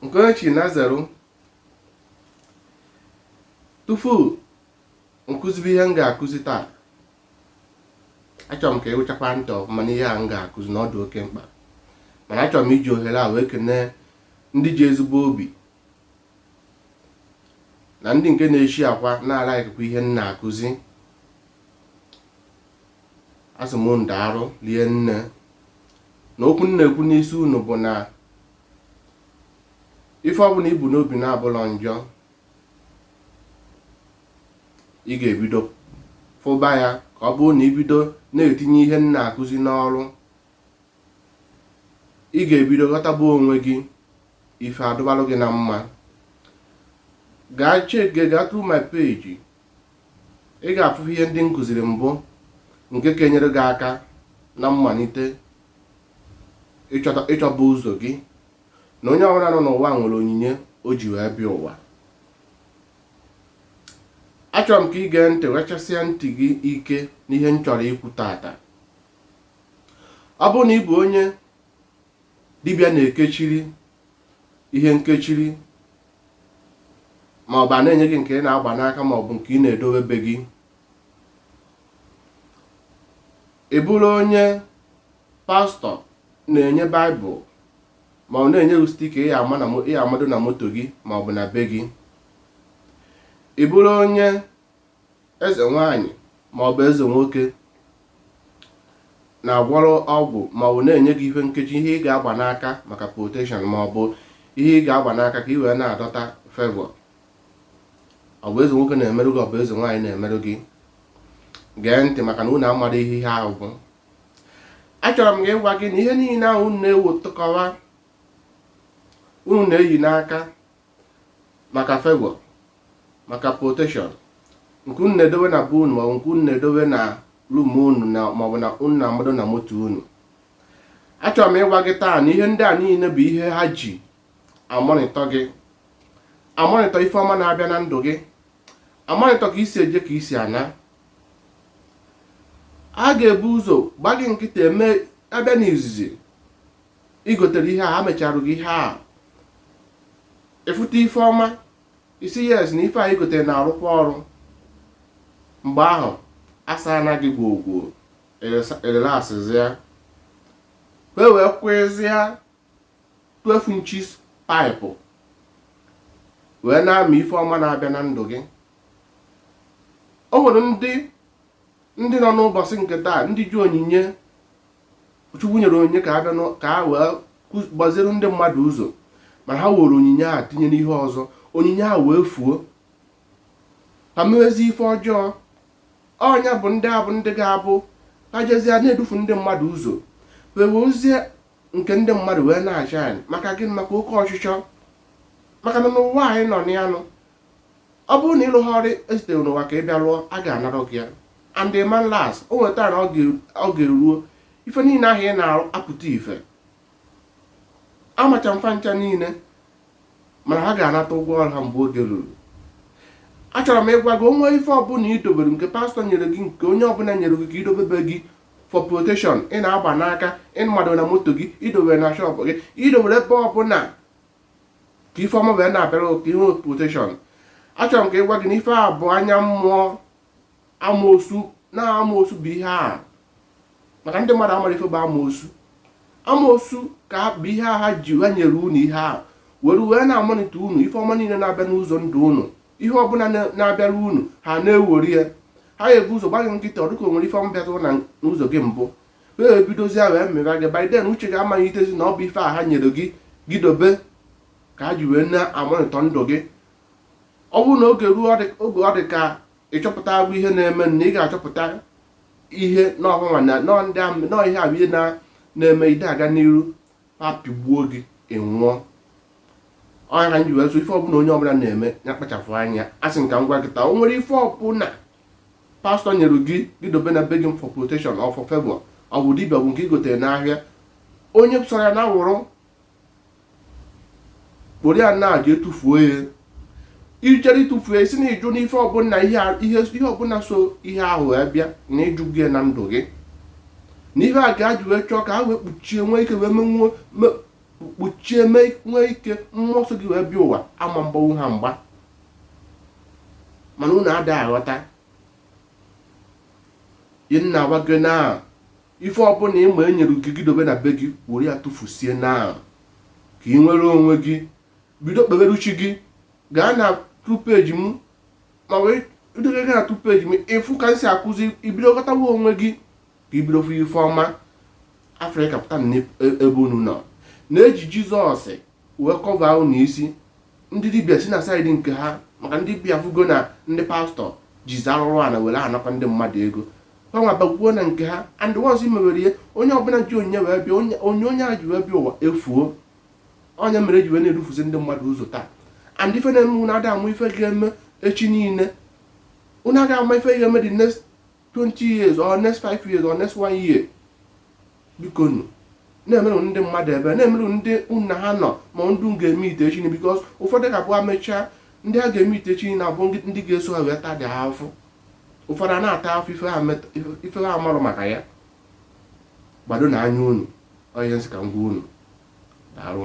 nke onye chi na zero tupu m kụzibe ihe m ga-akụzi taa achọrọ m ka ị wụchakwa ntị ọfụma n'ihe a m ga-akụzi na ọ dị oke mkpa mana achọrọ m iji ohere a wee kenee ndị ji ezigbo obi na ndị nke na-eshiakwa na-alaịkịkwa ihe m na-akụzi asị m unu daalụ rie nne na okwu m na-ekwu n'isi unu bụ na ife ọbụla i bu n'obi na-abụlọ njọ ị ga-ebido fụba ya ka ọ bụrụ na i bido na-etinye ihe m na-akụzi n'ọrụ ị ga-ebido ghọtaba onwe gị ife adụbalụ gị na mma gaa cheke gaa through my page ị ga-afụ ihe ndị m kụziri mbụ nke ga-enyere gị aka na mmalite ịchọba ụzọ gị na onye ọbụla nọ n'ụwa nwere onyinye o ji wee bịa ụwa achọrọ m ka ị gee ntị wechasịa ntị gị ike n'ihe m chọrọ ikwu taata ọ bụrụ na ị bụ onye dibịa na-ekechiri ihe nkechiri ma ọ bụ a na-enye gị nke ị na-agba n'aka ma ọ bụ nke ị na-edowe be gị ị bụrụ onye pastọ na-enye baịbụl ma ọ na-enye gị stika ị ga-amado na moto gị ma ọ bụ na be gị ị bụrụ onye eze nwaanyị maọbụ eze nwoke na-agwọrọ ọgwụ maọbụ na-enye gị ife nkechi ihe ị ga-agba n'aka maka protection maọbụ ihe ị ga-agba n'aka ka ị wee na-adọta favor ọ bụ eze nwoke na-emerụ gị ọ bụ eze nwaanyị na-emerụ gị gee ntị maka na unu amara ihe ihe ahụ bụ achọrọ m gị ịgwa gị na ihe niile ahụ unu na-ewutụkọwa unu na-eyi n'aka maka favour maka protection nke unu na-edowe na be unu maọbụ nke unu na-edowe na rum unu na maọbụ na unu na-amado na moto unu achọrọ m ịgwa gị taa na ihe ndị a niile bụ ihe ha ji amonitọ gị amonitọ ife ọma na-abịa na ndụ gị amonitọ ka i si eje ka i si ana a ga-ebu ụzọ gba gị nkịta eme abịa n'izizi i gotere ihe a ha mecharụ gị ihe a ị fụta ife ọma ị sị yes na ife a i gotere na-arụkwa ọrụ mgbe ahụ asa na gị gwogwo erelaksịzịa wee wee kwụzịa 12 inches paịpụ wee na-amị ife ọma na-abịa na ndụ gị o nwere ndị nọ n'ụbọchị nke taa ndị ji onyinye Chukwu nyere onyinye ka ha bịa ka ha wee gbaziere ndị mmadụ ụzọ ma ha were onyinye a tinye n'ihe ọzọ onyinye a wee fuo ha mewezi ife ọjọọ ọ nya bụ ndị abụ ndị ga-abụ ha jezie na-edufu ndị mmadụ ụzọ wee wezie nke ndị mmadụ wee na-acha anyị maka gịnị maka oke ọchịchọ maka na n'ụwa anyị nọ n'anụ ọ bụrụ na ị rụghị ọrụ e zitere n'ụwa ka ị bịa rụọ a ga-anara gị ya and the man last o nweta na ọ ga-eruo ife niile ha na-arụ apụta ife amacha m fa ncha niile mana ha ga-anata ụgwọ ọrụ ha mgbe oge ruru achọrọ m ịgwa gị o nwee ife ọbụla i dobere nke pastọ nyere gị nke onye ọbụla nyere gị ka i dobe be gị for protection ị na-agba n'aka ị mado na moto gị i dobere na shọpụ gị i dobere ebe ọbụla ka ife ọma wee na-abịara ka i nwee protection achọrọ m ka ịgwa gị na ife a bụ anya mmụọ amoosu na amoosu bụ ihe a maka ndị mmadụ amarọ ife bụ amoosu amoosu ka bụ ihe a ha ji ha nyere unu ihe a were wee na-amonitọ unu ife ọma niile na-abịa n'ụzọ ndụ unu ihe ọbụla na-abịara unu ha na-ewere ya ha ga-ebu ụzọ gba gị nkịtị ọ dịka o nwere ife ọma bịatụrụ na n'ụzọ gị mbụ wee bidozia wee meba gị by then uche gị amaghị itezi na ọ bụ ife a ha nyere gị gị dobe ka ha ji wee na-amonitọ ndụ gị ọ bụrụ na oge ruo oge ọ dị ka ị chọpụtago ihe na-eme na ị ga-achọpụta ihe n'ọhụnwa na nọọ ndị ahụ na ọ ihe ahụ ihe na-eme ị da aga n'iru ha pịgbuo gị ị nwụọ ọ nya ka m ji wee sị ife ọbụla onye ọbụla na-eme ya kpachapụ anya asị m ka m gwa gị taa o nwere ife ọbụla pastọ nyere gị gị dobe na be gị for protection or for favor ọ bụ dibịa ọ bụ nke i gotere n'ahịa onye sọrọ ya na wụrụ kporo ya na jee tufuo ya i jere ịtụfu ya ị sị na ị jụ n'ife ọbụla ihe a- ihe ihe ọbụla so ihe ahụ wee bịa na ị jụgo ya na ndụ gị na ihe a ka ha ji wee chọọ ka ha wee kpuchie nwee ike wee menwuo me- kpuchie mee nwee ike mmụọ so gị wee bịa ụwa ama agbanwu ha mgba mana unu ada aghọta ihe m na-agwa gị na ife ọbụla ị ma e nyere gị gị dobe na be gị were ya tụfusie na ka ị nwere onwe gị bido kpebere chi gị gaa na tu peji m ma wee idebe gị na tu peji m ị fụ ka m si akụzi i bido ghọtawa onwe gị ka i bido fụ ife ọma afrịka pụta na e- ebe unu nọ na-eji jizọs wee kọva unu isi ndị dibịa si na saịdị nke ha maka ndị dibịa fụgo na ndị pastọ jizi arụrụ ana were anakwa ndị mmadụ ego gbanwe abakwuo na nke ha and once mewere ihe onye ọbụla ji onyinye wee bịa onyinye a ji wee bịa ụwa efuo onye mere eji wee na-edufuzi ndị mmadụ ụzọ taa and ife na-eme unu ada ama ife ga-eme echi niile unu ada ama ife ga-eme the next 20 years or next 5 years or next 1 year biko nu na-emerụ ndị mmadụ ebele na-emerụ ndị unu na ha nọ ma ndị ga-eme ite echi because ụfọdụ ga-abụ amechaa ndị ha ga-eme ite echi na-abụ ndị ga-eso ha wee taa dị afụfụ ụfọdụ a na-ata afụfụ ife ha amarọ maka ya gbado nụ anya unu ọ ihe m sị ka m gwa unu daalụ